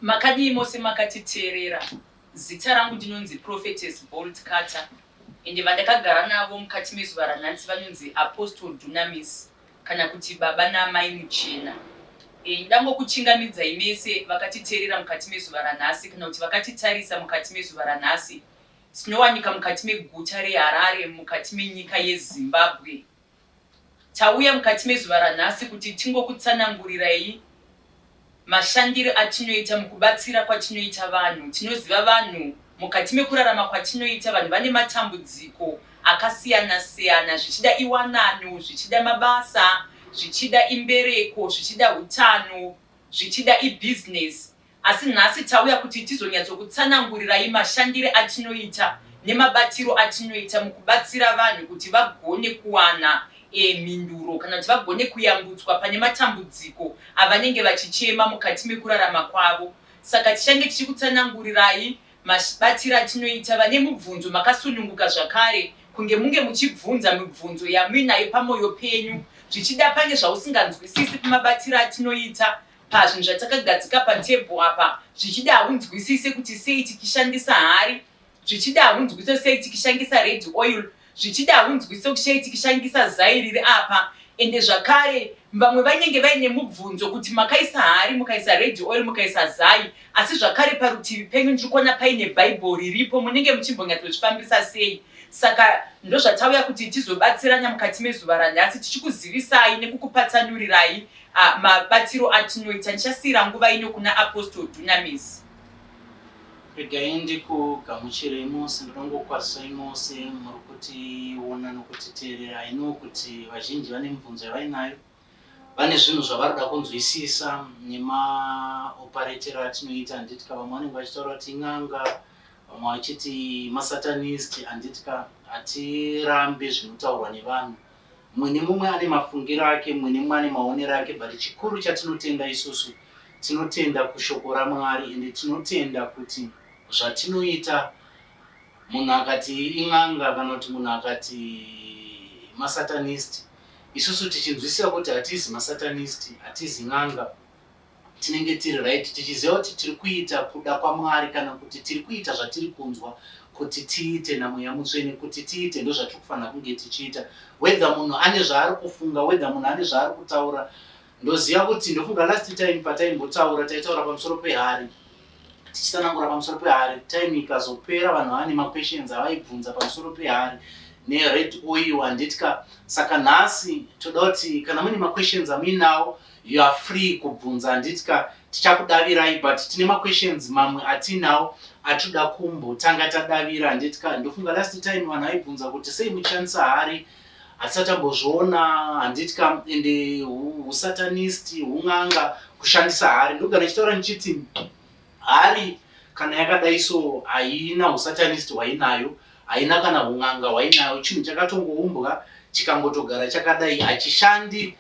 Makadii mose makatiteerera. Zita rangu ndinonzi Prophetess Bold Cutter ende vandakagara navo mukati mezuva ranhasi vanonzi Apostle Dunamis. kana kuti baba naamai muchena e, ndangokuchingamidzai mese vakatiteerera mukati mezuva ranhasi kana kuti vakatitarisa mukati mezuva ranhasi. Tinowanika mukati meguta reHarare mukati menyika yeZimbabwe. Tauya mukati mezuva ranhasi kuti tingokutsanangurirai. Mashandiro atinoita mukubatsira kwatinoita vanhu. Tinoziva vanhu mukati mekurarama kwatinoita vanhu vane matambudziko akasiyana siyana zvichida iwanano, zvichida mabasa, zvichida imbereko, zvichida hutano, zvichida ibusiness asi nhasi tauya kuti tizonyatsokutsanangurirai mashandire atinoita nemabatiro atinoita mukubatsira vanhu kuti vagone kuwana E mhinduro, kana kuti vagone kuyambutswa pane matambudziko avanenge vachichema mukati mekurarama kwavo. Saka tichange tichikutsanangurirai mabatire atinoita vane mubvunzo makasununguka zvakare kunge munge muchibvunza mibvunzo yamuinayo pamoyo penyu zvichida pane zvausinganzwisisi pamabatire atinoita pazvinhu zvatakagadzika patable apa zvichida haunzwisise kuti sei tichishandisa hari Zvichida hunzwise sei tikishangisa red oil zvichida hunzwise sei tikishangisa zai riri apa ende zvakare vamwe vanenge vaine mubvunzo kuti makaisa hari mukaisa red oil mukaisa zai asi zvakare parutivi penyu ndiri kuona paine bible riripo munenge muchimbonyatsozvifambisa sei saka ndozvatauya kuti tizobatsirana mukati mezuva ranhasi tichikuzivisai nekukupatsanurirai uh, mabatiro atinoita ndichasiira nguva ino kuna apostle dunamis Regai ndikugamuchirei mose, ndinongokwazisai mose muri kutiona nokutiteerera. I know kuti vazhinji vane mibvunzo yavainayo, vane zvinhu zvavari kuda kunzwisisa nemaoparetero atinoita, handitika? Vamwe vanenge vachitaura kuti in'anga, vamwe vachiti masatanist, handitika? Hatirambi zvinotaurwa nevanhu. Mumwe nemumwe ane mafungiro ake, mumwe nemumwe ane maonero ake but chikuru chatinotenda isusu tinotenda kushoko raMwari ende tinotenda kuti zvatinoita munhu akati in'anga kana kuti munhu akati masatanist isusu tichinzwisisa kuti hatizi masatanist hatizi n'anga Tinenge tiri right tichiziva kuti tiri kuita kuda kwaMwari kana kuti tiri kuita zvatiri kunzwa kuti tiite naMweya Mutsvene kuti tiite ndozvatiri kufanira kunge tichiita whether munhu ane zvaari kufunga whether munhu ane zvaari kutaura ndoziva kuti ndofunga last time pataimbotaura taitaura pamusoro pehari tichisanangura pamusoro pehari time ikazopera vanhu vava nemaquestions avaibvunza pamusoro pehari nered oil handiti ka saka nhasi toda kuti kana mune maquestions amuinawo You are free kubvunza handiti ka tichakudavirai but tine maquestions mamwe atinawo atinoda kumbo tanga tadavira handiti ka ndofunga last time vanhu vaibvunza kuti sei muchishandisa hari hatisati tambozviona handiti ka ende husatanist hun'anga kushandisa hari ndogara ndichitaura ndichiti hari kana yakadai so haina husatanist hwainayo haina kana hun'anga hwainayo chinhu chakatongoumbwa chikangotogara chakadai hachishandi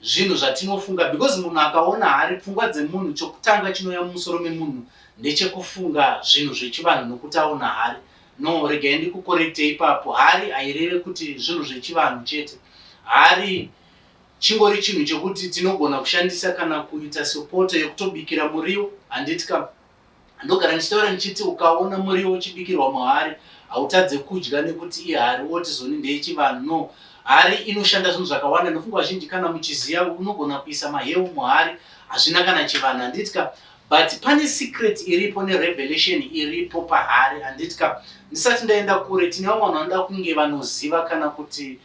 zvinhu zvatinofunga because munhu akaona hari pfungwa dzemunhu chokutanga chinouya mumusoro memunhu ndechekufunga zvinhu zvechivanhu nokuti aona hari no regai ndikukorekte ipapo hari haireve kuti zvinhu zvechivanhu chete hari chingori chinhu chekuti tinogona kushandisa kana kuita sopoto yekutobikira muriwo handiti ka Ndogara ndichitaura ndichiti ukaona muriwo uchibikirwa muhari hautadze kudya nekuti ihari woti zoni ndeyechivanhu no hari inoshanda zvinhu zvakawanda ndofunga vazhinji kana muchiziya unogona kuisa mahewu muhari hazvina kana chivanhu handiti ka but pane secret iripo nerevelation iripo pahari handiti ka ndisati ndaenda kure tine vamwe vanhu vanoda kunge vanoziva kana kuti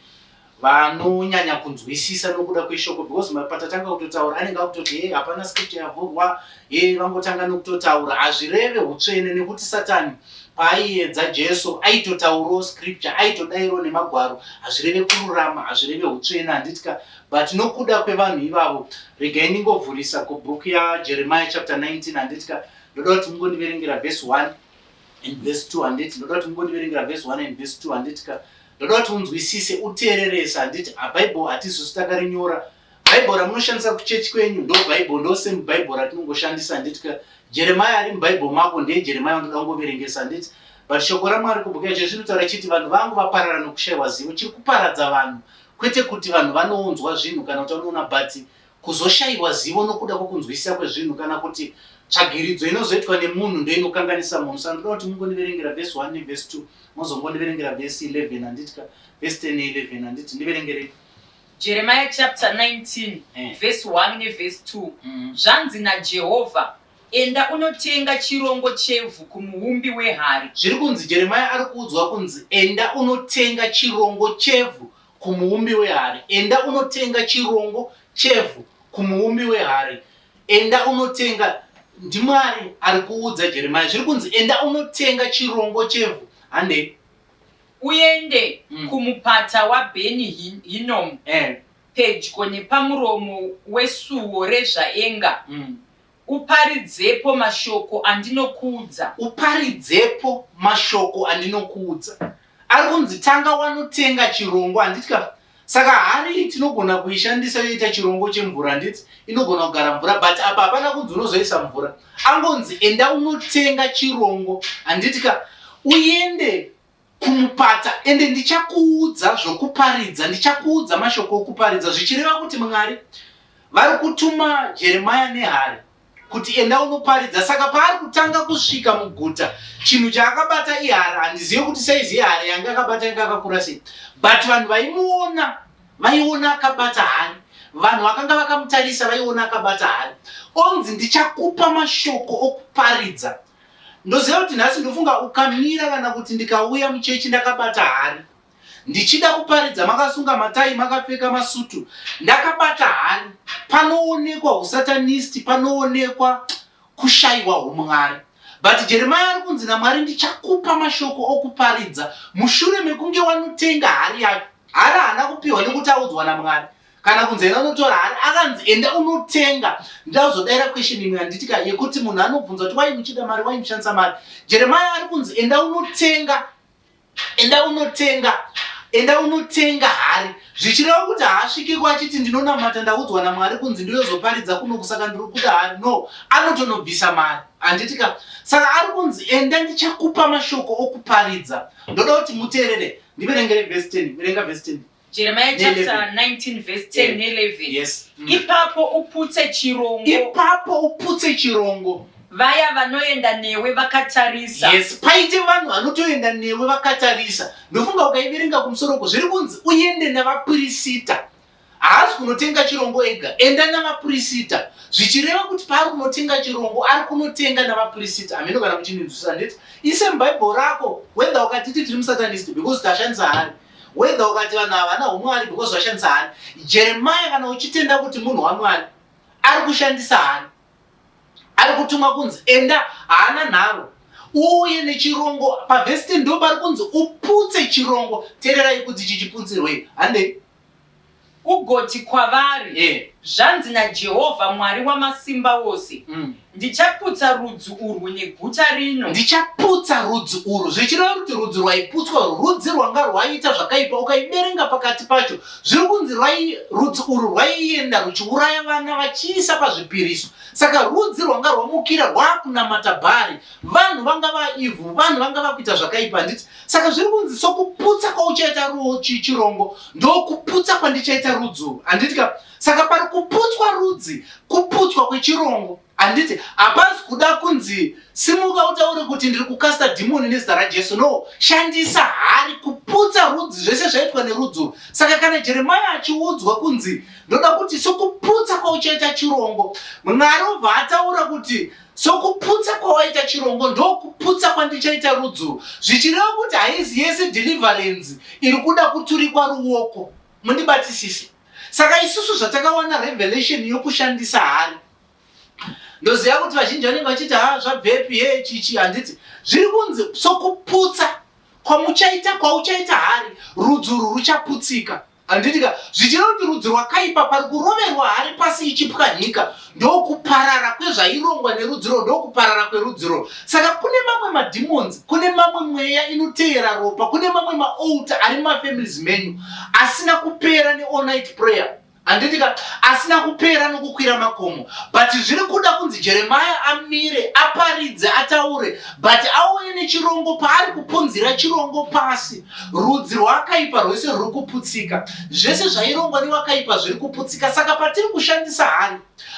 vanonyanya kunzwisisa nokuda kweshoko because patatanga kutotaura anenge akutoti hey, hapana script yavhurwa hey, vangotanga nokutotaura hazvireve utsvene nekuti satani paaiedza jesu aitotaurawo scripture aitodairo nemagwaro hazvireve kururama hazvireve utsvene handitika but nokuda kwevanhu ivavo regai ndingovhurisa kubhuku yajeremiya chapter 19 handitika ndoda kuti mungondiverengera vhesi 1 and verse 2 handiti ndoda kuti mungondiverengera verse 1 and verse 2 handiti ka ndoda kuti unzwisise uteererese handiti abible hatizosi takarinyora bible ramunoshandisa kuchechi kwenyu ndo bible ndo same bible ratinongoshandisa handiti ka jeremaya ari mubible mako ndiye jeremaya wandoda kungoverengesa handiti but shoko ramwari kubhuka izvo zvinotaura chiti vanhu vangu vaparara nokushayiwa zivo chiri kuparadza vanhu kwete kuti vanhu vanounzwa zvinhu kana kuti vanoona but Kuzoshaiwa zivo nokuda kwokunzwisisa kwezvinhu kana kuti tsvagiridzo inozoitwa nemunhu ndoinokanganisa munhu. Saka ndoda kuti mungondiverengera vhesi 1 nevhesi 2 mozongondiverengera vhesi 11 handiti ka? Vhesi 10 ne11 handiti? Ndiverengerei. Jeremiah chapter 19 Eh. verse 1 neverse 2 Mm. zvanzi najehovha enda unotenga chirongo chevhu kumuumbi wehari Zviri kunzi Jeremiah ari kuudzwa kunzi enda unotenga chirongo chevhu kumuumbi wehari, enda unotenga chirongo chevhu kumuumbi wehari, enda unotenga ndiMwari ari kuudza Jeremiah zviri kunzi enda unotenga chirongo chevhu handei uende mm. kumupata waBeni Hinomu eh. pedyo nepamuromo wesuwo rezvaenga mm. Uparidzepo mashoko andinokuudza. Uparidzepo mashoko andinokuudza. Ari kunzi tanga wanotenga chirongo handiti ka? Saka hari tinogona kuishandisa yoita chirongo chemvura handiti? Inogona kugara mvura but apa hapana kunzi unozoisa mvura. Angonzi enda unotenga chirongo handiti ka? Uende kumupata ende ndichakuudza zvokuparidza ndichakuudza mashoko okuparidza zvichireva kuti mwari vari kutuma jeremaya nehari kuti enda unoparidza saka paari kutanga kusvika muguta chinhu chaakabata ihari handizive kuti saizi ihari yange akabata yanga akakura sei but vanhu vaimuona vaiona akabata hari vanhu vakanga vakamutarisa vaiona akabata hari onzi ndichakupa mashoko okuparidza Ndoziva kuti nhasi ndofunga ukamira kana kuti ndikauya muchechi ndakabata hari ndichida kuparidza makasunga matai makapfeka masutu ndakabata hari panoonekwa usatanisti panoonekwa kushayiwa umwari but jeremaya ari kunzi namwari ndichakupa mashoko okuparidza mushure mekunge wanotenga hari yacho hari haana kupiwa nekuti audzwa namwari kana kunzi enda unotora hari akanzi enda unotenga ndauzodaira question imwe yanditika yekuti munhu anobvunza kuti wai muchida mari wai muchandisa mari jeremaya ari kunzi enda unotenga enda unotenga enda unotenga hari zvichireva kuti haasvikiko achiti ndinonamata ndaudzwa namwari kunzi ndiyozoparidza kuno kusaka ndiri kuda hari no anotonobvisa mari handitika saka ari kunzi enda ndichakupa mashoko okuparidza ndoda kuti muteerere ndiverengere vhesi 10 verenga vhesi 10 Jeremiah chapter 19 verse 10 ne 11. Yes. Mm. Ipapo uputse chirongo. Ipapo uputse chirongo. Vaya vanoenda newe vakatarisa. Yes, paite vanhu vanotoenda newe vakatarisa. Ndofunga ukaiverenga kumusoro uko zviri kunzi uende navapurisita. Haasi kunotenga chirongo ega, enda navapurisita. Zvichireva kuti paari kunotenga chirongo ari kunotenga navapurisita. Hameno kana muchinzwisisa ndeti. Ise mubhaibheri rako wenda wakatiti tiri musatanist because tashandisa hari. whether ukati vanhu ava vana humwari because vashandisa hani jeremaya kana uchitenda kuti munhu wamwari ari kushandisa hani ari kutumwa kunzi enda haana nharo uye nechirongo pavhesite ndo pari kunzi uputse chirongo tererai kuti chichiputsirwei handei Ugoti kwavari, Zvanzi naJehovha Mwari Wamasimbaose, Ndichaputsa rudzi urwu neguta rino. Ndichaputsa rudzi urwu, zvichireva kuti rudzi rwaiputswa urwu rudzi rwanga rwaiita zvakaipa. Ukaiverenga pakati pacho, zviri kunzi rudzi urwu rwaienda rwuchiuraya vana vachiisa pazvipiriso. Saka rudzi rwanga rwamukira rwaakunamata Bhari. Vanhu vanga vaa evil, vanhu vanga vakuita zvakaipa. Handiti saka zviri kunzi sokuputsa kwauchaita ruchi chirongo ndokuputsa kwandichaita rudzuru handiti ka saka pari kuputswa rudzi kuputswa kwechirongo handiti hapazi kuda kunzi simuka utaure kuti ndiri kukasta dhimoni nezita rajesu no shandisa hari kuputsa rudzi zvese zvaitwa nerudzuru saka kana jeremaya achiudzwa kunzi ndoda kuti sokuputsa kwauchaita chirongo mwari obva ataura kuti Sokuputsa kwawaita chirongo ndokuputsa kwandichaita rudzuru, zvichireva kuti haizi yese deliverance iri kuda kuturikwa ruoko. Mundibatisise. Saka isusu zvatakawana revelation yokushandisa hari ndoziva kuti vazhinji vanenge vachiti ha ah, zvabvepi he chichi handiti zviri kunzi sokuputsa kwamuchaita kwauchaita hari rudzuru ruchaputsika Handiti ka zvichida kuti rudzi rwakaipa pari kuroverwa hari pasi ichipwanyika ndokuparara kwezvairongwa nerudziro ndokuparara kwerudziro saka kune mamwe mademons kune mamwe mweya inoteera ropa kune mamwe maalta ari mumafamilies menyu asina kupera neall night prayer handiti ka asina kupera nokukwira makomo but zviri kuda kunzi jeremaya amire aparidze ataure but auye nechirongo paari kupunzira chirongo pasi Rudzi rwakaipa rwese ruri kuputsika. Zvese zvairongwa newakaipa zviri kuputsika. Saka patiri kushandisa hari,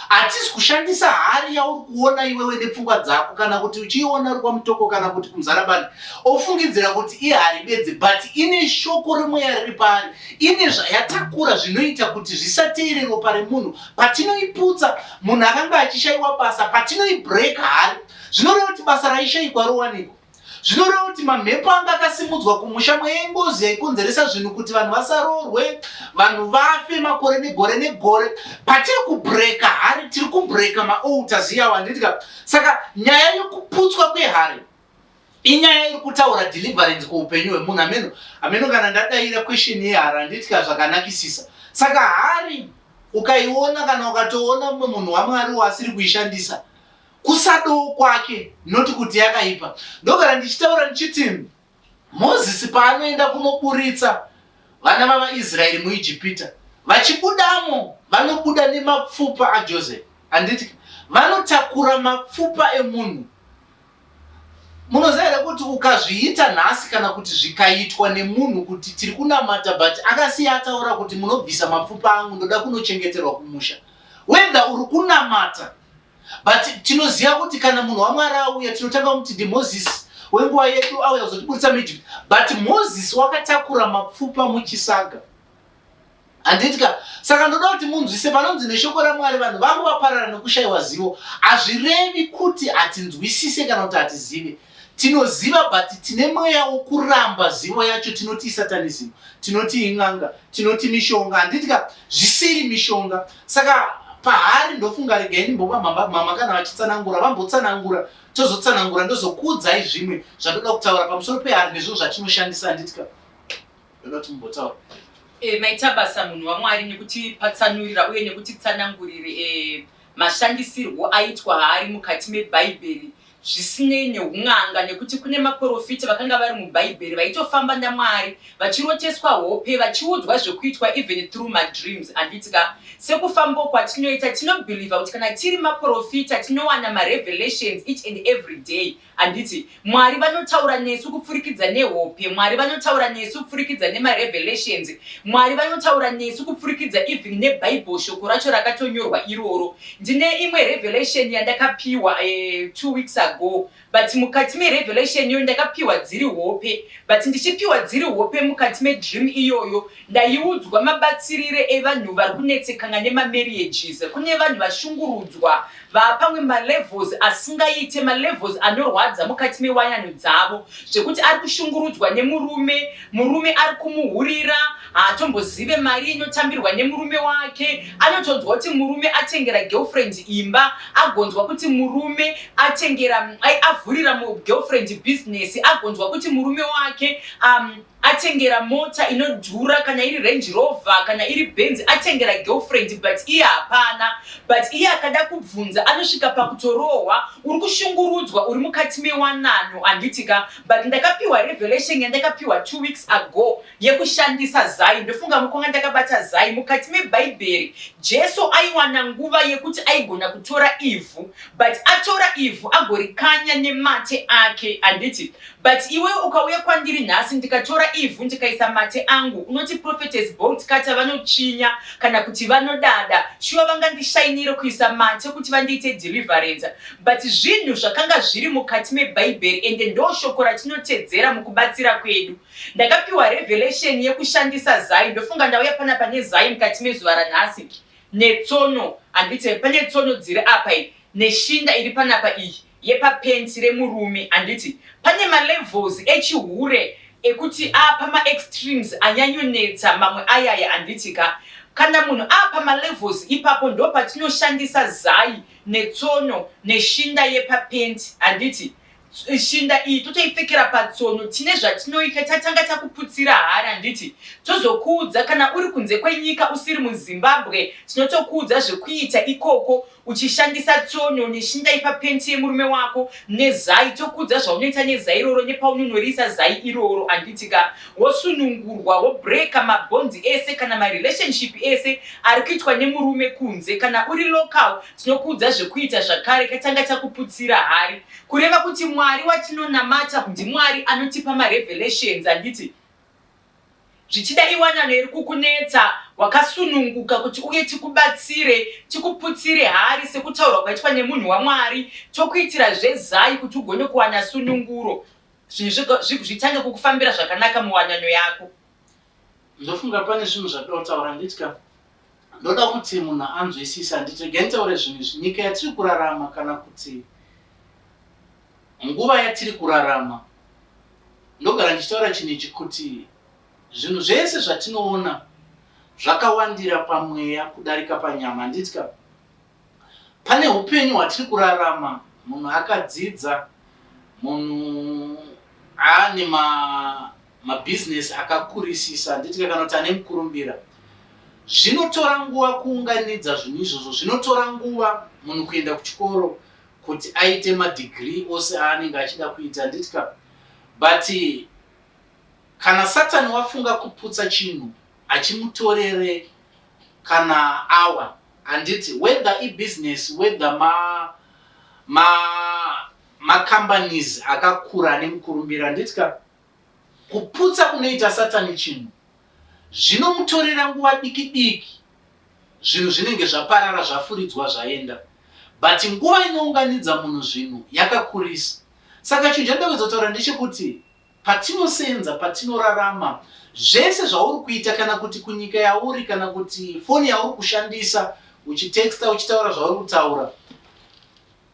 hatisi kushandisa hari yauri kuona iwewe nepfungwa dzako, kana kuti uchiiona uri kwamutoko kana kuti kumuzarabani, ofungidzira kuti ihari bedzi, but ine shoko remweya riri paari, ine zvayatakura zvinoita kuti zvisateere ropa remunhu. Patinoiputsa, munhu akanga achishaiwa basa, patinoibreak hari, zvinoreva kuti basa raishaikwa rowanikwa. zvinoreva kuti mamhepo anga akasimudzwa kumusha mweya ingozi yaikonzeresa zvinhu kuti vanhu vasaroorwe vanhu vafe makore negore negore patiri kubreka hari tiri kubreka maalters iyawo handitika saka nyaya yekuputswa kwehari inyaya iri kutaura deliverance kweupenyu hwemunhu ameno ameno kana ndadaira question yehari handitika zvakanakisisa saka hari ukaiona kana ukatoona mumwe munhu wamwari waasiri kuishandisa kusadoo kwake not kuti yakaipa ndogara ndichitaura ndichiti mozisi paanoenda kunoburitsa vana vavaisraeri muijipita vachibudamo vanobuda nemapfupa ajoseph handiti vanotakura mapfupa emunhu munoziva here kuti ukazviita nhasi kana kuti zvikaitwa nemunhu kuti tiri kunamata but akasiya ataura kuti munobvisa mapfupa angu ndoda kunochengeterwa kumusha wedha uri kunamata but tinoziva kuti kana munhu wamwari auya tinotanga kumuti ndimozisi wenguva yedu auya kuzotiburitsa muegypt but mozisi wakatakura mapfupa muchisaga handitika saka ndoda kuti munzwise panonzi neshoko ramwari vanhu vangu vaparara nokushayiwa zivo hazvirevi kuti hatinzwisise kana kuti hatizive Tinoziva but tine mweya wokuramba zivo yacho tinoti isatanism tinoti in'anga tinoti mishonga handiti ka zvisiri mishonga saka pahari ndofunga regai ndimbopa mhamba mama kana vachitsanangura vambotsanangura tozotsanangura ndozokuudzai zvimwe zvandoda kutaura pamusoro pehari nezvo zvatinoshandisa handiti ka ndoda kuti mumbotaura e, maita basa munhu wamwari nekutipatsanurira uye nekutitsanangurire e, mashandisirwo aitwa haari mukati mebhaibheri zvisinei nehun'anga nekuti kune maporofita vakanga vari mubhaibheri vaitofamba naMwari vachiroteswa hope vachiudzwa zvekuitwa even through madreams handiti ka sekufambawo kwatinoita tinobeliever kuti kana tiri maporofita tinowana marevelations each and everyday handiti Mwari vanotaura nesu kupfurikidza nehope Mwari vanotaura nesu kupfurikidza nemarevelations Mwari vanotaura nesu kupfurikidza even nebible shoko racho rakatonyorwa iroro Ndine imwe revelation yandakapiwa two weeks ago but mukati merevelation iyoyo ndakapiwa dziri hope but ndichipiwa dziri hope mukati medream iyoyo ndaiudzwa mabatsirire evanhu vari kunetsekana nemamarriages kune vanhu vashungurudzwa vaapamwe malevels asingaite malevels anorwadza mukati mewanano dzavo zvekuti ari kushungurudzwa nemurume Murume ari kumuhurira haatombozive mari inotambirwa nemurume wake. Anotonzwa kuti murume atengera girlfriend imba, agonzwa kuti murume atengera ai avhurira girlfriend business, agonzwa kuti murume wake um, atengera mota inodhura kana iri Range Rover kana iri Benz atengera girlfriend but iye hapana. But iye akada kubvunza anosvika pakutorohwa, uri kushungurudzwa uri mukati mewanano handiti ka? but ndakapiwa revelation yandakapiwa two weeks ago yekushandisa zai ndofunga mukwanga ndakabata zai mukati mebhaibheri jesu aiwana nguva yekuti aigona kutora ivhu but atora ivhu agorikanya nemate ake handiti but iwe ukauya kwandiri nhasi ndikatora ivhu ndikaisa mate angu unoti prophetes bolt kata vanotsvinya kana kuti vanodada shuwa vangandishainire kuisa mate kuti vandiite deliverance But zvinhu zvakanga zviri mukati mebhaibheri ende ndoshoko ratinotedzera mukubatsira kwedu. Ndakapiwa revelation yekushandisa zai ndofunga ndauya panapa nezai mukati mezuva ranhasi. Netsono, handiti pane tsono dziri apa iyi neshinda iri panapa iyi yepapenti remurume handiti. Pane malevels echihure ekuti aapama extremes anyanyonetsa mamwe ayaya handiti ka. Kana munhu aapama levels ipapo ndopatinoshandisa zai. netsono neshinda yepa pant handiti shinda iyi totoipfekera patsono tine zvatinoita tatanga takuputsira hari handiti tozokuudza kana uri kunze kwenyika usiri muzimbabwe tinotokuudza zvekuita ikoko uchishandisa tsono neshinda yepa pant yemurume wako nezai tokuudza zvaunoita nezai iroro nepaunonoriisa zai iroro handiti ka wosunungurwa wobreaker mabhonzi ese kana marelationship ese ari kuitwa nemurume kunze kana uri local tinokuudza zvekuita zvakare katanga takuputsira hari kureva kuti mwari watinonamata ndimwari anotipa marevelations handiti zvichida iwanano iri kukunetsa wakasununguka kuti uye tikubatsire tikuputsire hari sekutaurwa kwaitwa nemunhu wamwari tokuitira zvezai kuti ugone kuwana sununguro zvinhu zvitange kukufambira zvakanaka muwanano yako. Ndofunga pane zvinhu zvatiri kutaura handiti ka? Ndoda kuti munhu anzwisise handiti? Regai nditaure zvinhu izvi. Nyika yatiri kurarama kana kuti nguva yatiri kurarama, ndogara ndichitaura chinhu ichi kuti zvinhu zvese zvatinoona zvakawandira pamweya kudarika panyama handiti ka? Pane hupenyu hwatiri kurarama munhu akadzidza, munhu aane mabhizinesi akakurisisa, handiti kana kuti ane mukurumbira. Zvinotora nguva kuunganidza zvinhu izvozvo, zvinotora nguva munhu kuenda kuchikoro kuti aite madhigirii ose aanenge achida kuita, handiti ka? But kana Satani wafunga kuputsa chinhu, hachimutorere kana awa. Handiti whether i business whether ma ma ma companies akakura ane mukurumbira handiti ka kuputsa kunoita satani chinhu zvinomutorera nguva diki diki zvinhu zvinenge zvaparara zvafuridzwa zvaenda but nguva inounganidza munhu zvinhu yakakurisa saka chinhu chandawedza kutaura ndechekuti Patinosenza, patinorarama, zvese zvauri kuita kana kuti kunyika yauri kana kuti foni yauri kushandisa uchitexta uchitaura zvauri kutaura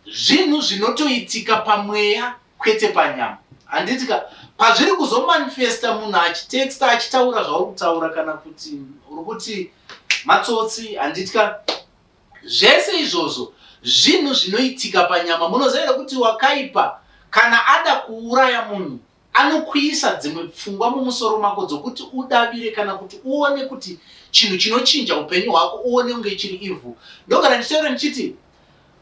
zvinhu zvinotoitika pamweya kwete panyama handiti ka pazviri kuzomanifesta munhu achitexta achitaura zvauri kutaura kana kuti uri kuti matsotsi handiti ka Zvese izvozvo zvinhu zvinoitika panyama. Munoziva here kuti wakaipa kana ada kuuraya munhu anokuisa dzimwe pfungwa mumusoro mako dzokuti udavire kana kuti uone kuti chinhu chinochinja upenyu hwako uone kunge chiri ivhu. Ndogara ndichitaura ndichiti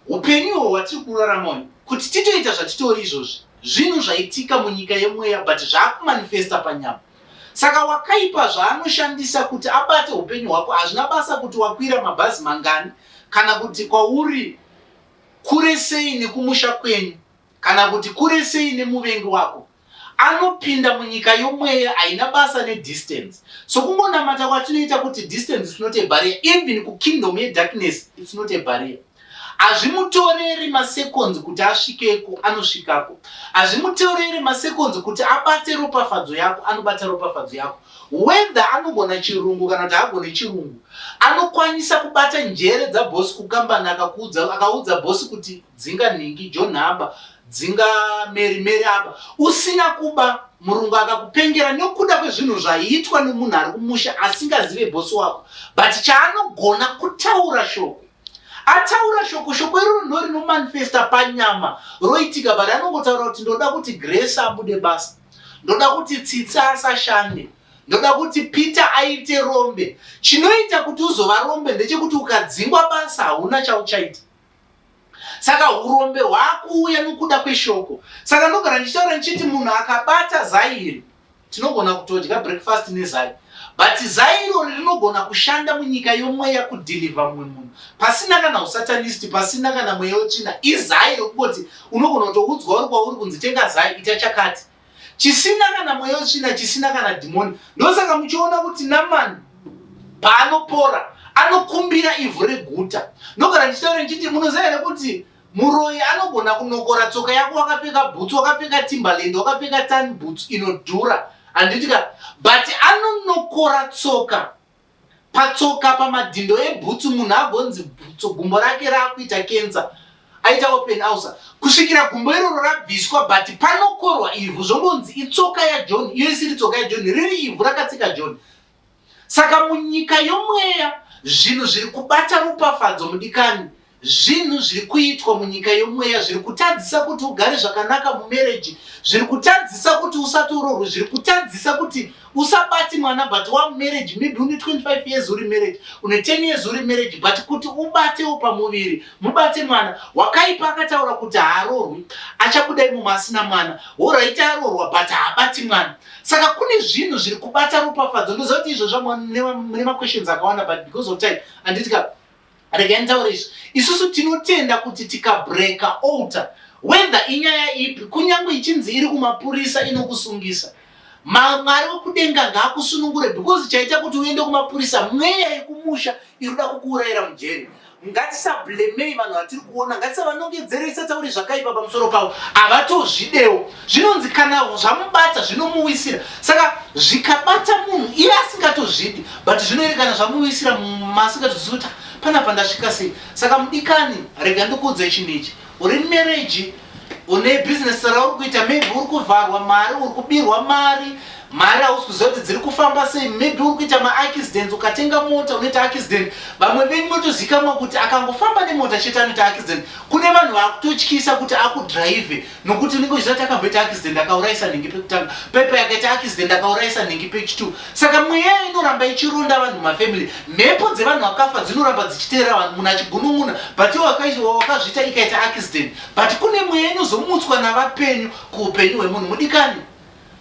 upenyu ihwo hwatiri kurarama uyu kuti titoita zvatitori izvozvi zvinhu zvaitika munyika yemweya but zvaakumanifesta panyama. Saka wakaipa zvaanoshandisa kuti abate hupenyu hwako hazvina basa kuti wakwira mabhazi mangani kana kuti kwauri kure sei nekumusha kwenyu kana kuti kure sei nemuvengi wako. Anopinda munyika yomweya haina basa nedistance. So kungonamata kwatinoita kuti distance is not a barrier even kukingdom yedarkness it's not a barrier. Hazvimutoreri maseconds kuti asvikeko, anosvikako. Hazvimutoreri maseconds kuti abate ropafadzo yako, anobata ropafadzo yako. Whether anogona chirungu kana kuti haagone chirungu, anokwanisa kubata njere dzabosi kukambani akakuudza, akaudza bosi kuti dzinga nhingi John aba, dzinga Mary Mary aba, usina kuba murungu akakupengera nokuda kwezvinhu zvaiitwa nomunhu ari kumusha asingazive bosi wako, but chaanogona kutaura shoko. ataura shoko shoko iroro ndo rinomanifesta panyama roitika but anongotaura kuti ndoda kuti grace abude basa ndoda kuti tsitsi asashande ndoda kuti peter aite rombe chinoita kuti uzova rombe ndechekuti ukadzingwa basa hauna chauchaita saka urombe hwakuuya nokuda kweshoko saka ndogara ndichitaura ndichiti munhu akabata zairi Tinogona kutodya breakfast nezai but zai irori rinogona kushanda munyika yomweya kudeliver mumwe munhu pasina kana usatanist pasina kana mweya wetsvina izai rokungoti unogona kutoudzwa uri kwauri kunzi tenga zai ita chakati chisina kana mweya wetsvina chisina kana dhimoni ndosaka muchiona kuti namani paanopora anokumbira ivhu reguta ndogara ndichitaura ndichiti munoziva here kuti Muroyi anogona kunokora tsoka yako wakapfeka bhutsu wakapfeka timberland wakapfeka tan bhutsu inodhura handiti ka but anonokora tsoka patsoka pamadhindo ebhutsu munhu agonzi bhutso gumbo rake raakuita kensa aita open ausa kusvikira gumbo iroro rabviswa but panokorwa ivhu zvongonzi itsoka yajohn iyo isiri tsoka yajohn riri ivhu rakatsika john Saka munyika yomweya zvinhu zviri kubata rupafadzo mudikani zvinhu zviri kuitwa munyika yomweya zviri kutadzisa kuti ugare zvakanaka mumereji zviri kutadzisa kuti usati urorwe zviri kutadzisa kuti usabati mwana but wamumereji maybe une 25 years uri mereji une 10 years uri mereji but kuti ubatewo pamuviri mubate mwana wakaipa akataura kuti haarorwi achakudai mumwe asina mwana woraiti arorwa but haabati mwana saka kune zvinhu zviri kubata ropafadzo ndoziva kuti izvozvo mune maquestions akawanda but because of time anditi ka regai nditaure izvi isusu tinotenda kuti tikabreaka alter whether inyaya ipi kunyange ichinzi iri kumapurisa inokusungisa mwari wekudenga ngaakusunungure because chaita kuti uende kumapurisa mweya yekumusha iri kuda kukuurayira mujeri ngatisablemei vanhu vatiri kuona ngatisavanongedzere isatauri zvakaipa pamusoro pavo havatozvidewo zvinonzi kana zvamubata zvinomuwisira saka zvikabata munhu iye asingatozvidi but zvinoerekana zvamuwisira masingatozvizivi kuti panapa ndasvika sei saka mudikani rega ndikuudzei chinhu ichi uri mumereji une bhizinesi rauri kuita maybe uri kuvharwa mari uri kubirwa mari mari hausi kuziva kuti dziri kufamba sei maybe uri kuita maaccidents ukatenga mota unoita accident vamwe venyu motozikamwa kuti akangofamba nemota chete anoita accident kune vanhu vakutotyisa kuti akudrive nokuti unenge uchiziva kuti akamboita accident akaurayisa nhingi pekutanga pepa yakaita accident akaurayisa nhingi pechitu Saka mweya inoramba ichironda vanhu mafamily, mhepo dzevanhu vakafa dzinoramba dzichiteera vanhu, munhu achigunun'una but iwe wakazviita ikaita accident but kune mweya inozomutswa navapenyu kuupenyu hwemunhu mudikani.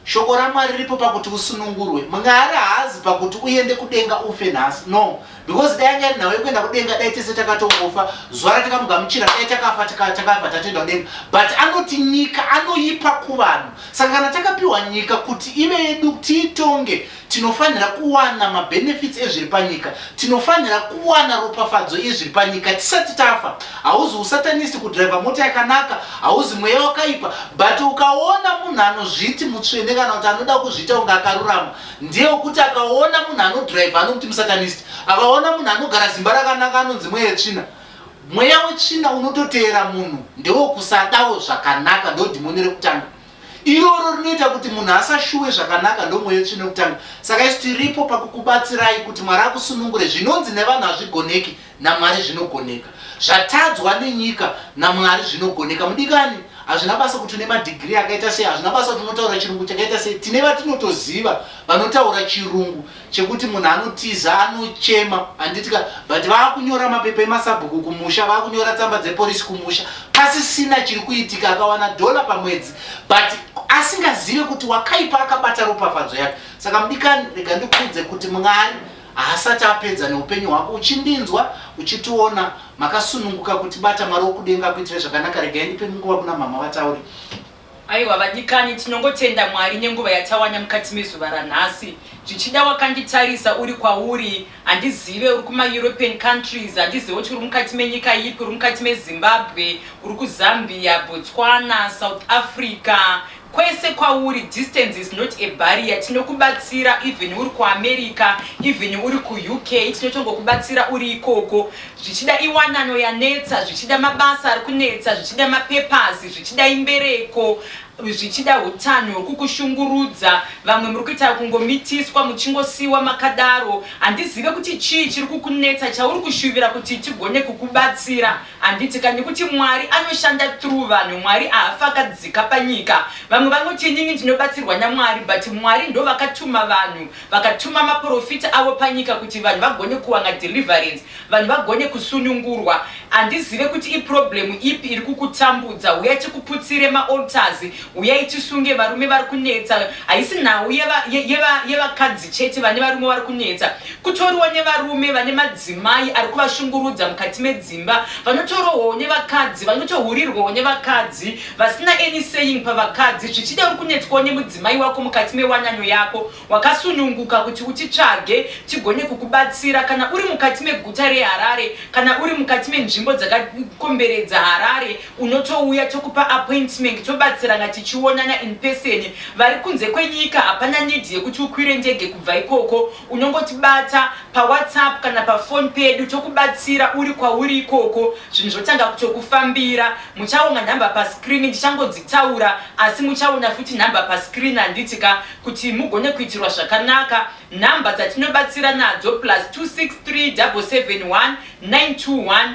Shoko raMwari riripo pakuti usunungurwe, Mwari haazi pakuti uende kudenga ufe nhasi, no because dai anga iri nhau yekuenda kudenga dai tese takatongofa zuva ratakamugamuchira dai takafa takabva tatoenda kudenga but anoti nyika anoipa kuvanhu saka kana takapiwa nyika kuti ive yedu tiitonge tinofanira kuwana mabenefits ezviri panyika tinofanira kuwana ropafadzo yezviri panyika tisati tafa hauzi usatanist kudriva mota yakanaka hauzi mweya wakaipa but ukaona munhu anozviti mutsvene kana kuti anoda kuzviita kunge akarurama ndeyekuti akaona munhu anodrive anokuti musatanist akaona munhu anogara zimba rakanaka anonzi mweya yetsvina mweya wetsvina unototeera munhu ndewekusadawo zvakanaka ndodhimoni rekutanga iroro rinoita kuti munhu asashuwe zvakanaka ndomweya wetsvina rekutanga saka isu tiripo pakukubatsirai kuti mwari akusunungure zvinonzi nevanhu hazvigoneki naMwari zvinogoneka. Zvatadzwa nenyika naMwari zvinogoneka. Mudikani, hazvina basa kuti une madhigirii akaita sei, hazvina basa kuti unotaura chirungu chakaita sei. Tine vatinotoziva vanotaura chirungu chekuti munhu anotiza, anochema, handitika, but vaakunyora mapepa emasabhuku kumusha, vaakunyora tsamba dzeporisi kumusha, pasisina chiri kuitika, akawana dhola pamwedzi, but asingazive kuti wakaipa akabata ropafadzo yake. Saka mudikani, rega ndikuudze kuti Mwari Haasati apedza neupenyu hwako uchindinzwa uchitiona makasununguka kutibata Mwari wokudenga akuitire zvakanaka regai ndipe nguva kuna mhamha vataure. Aiwa vadikani tinongotenda Mwari nenguva yatawana mukati mezuva ranhasi. Zvichida wakanditarisa uri kwauri handizive uri kuma European countries handizive kuti uri mukati menyika ipi uri mukati meZimbabwe uri kuZambia, Botswana, South Africa Kwese kwauri distance is not a barrier tinokubatsira even uri ku America even uri ku UK tinotongokubatsira uri ikoko zvichida iwanano yanetsa zvichida mabasa ari kunetsa zvichida ma papers zvichida imbereko zvichida hutanho huri kukushungurudza vamwe muri kuita kungomitiswa muchingosiiwa makadaro handizive kuti chii chiri kukunetsa chauri kushuvira kuti tigone kukubatsira Handiti ka nekuti Mwari anoshanda through vanhu Mwari ahafi akadzika panyika vamwe vanoti inini ndinobatsirwa naMwari but Mwari ndovakatuma vanhu vakatuma maporofita avo panyika kuti vanhu vagone kuwana deliverance vanhu vagone kusunungurwa handizive kuti iproblem ipi iri kukutambudza huya tikuputsire maaltars Huyai tisunge varume vari kunetsa. Haisi nhau yevakadzi chete vane varume vari kunetsa. Kutoriwo nevarume vane madzimai ari kuvashungurudza mukati medzimba. Vanotorohwawo nevakadzi, vanotohurirwawo nevakadzi vasina any saying pavakadzi. Zvichida uri kunetswawo nemudzimai wako mukati mewanano yako. Wakasununguka kuti utitsvage tigone kukubatsira kana uri mukati meguta reHarare kana uri mukati menzvimbo dzakakomberedza Harare. Unotouya tokupa appointment tobatsirana tichionana in person. Vari kunze kwenyika hapana need yekuti ukwire ndege kubva ikoko. Unongotibata pa whatsapp kana pa phone pedu tokubatsira uri kwauri ikoko zvinhu zvotanga kutokufambira. Muchaona number pa screen ndichangodzitaura asi muchaona futi number pa screen handiti ka kuti mugone kuitirwa zvakanaka. Number dzatinobatsira nadzo plus 263 771 921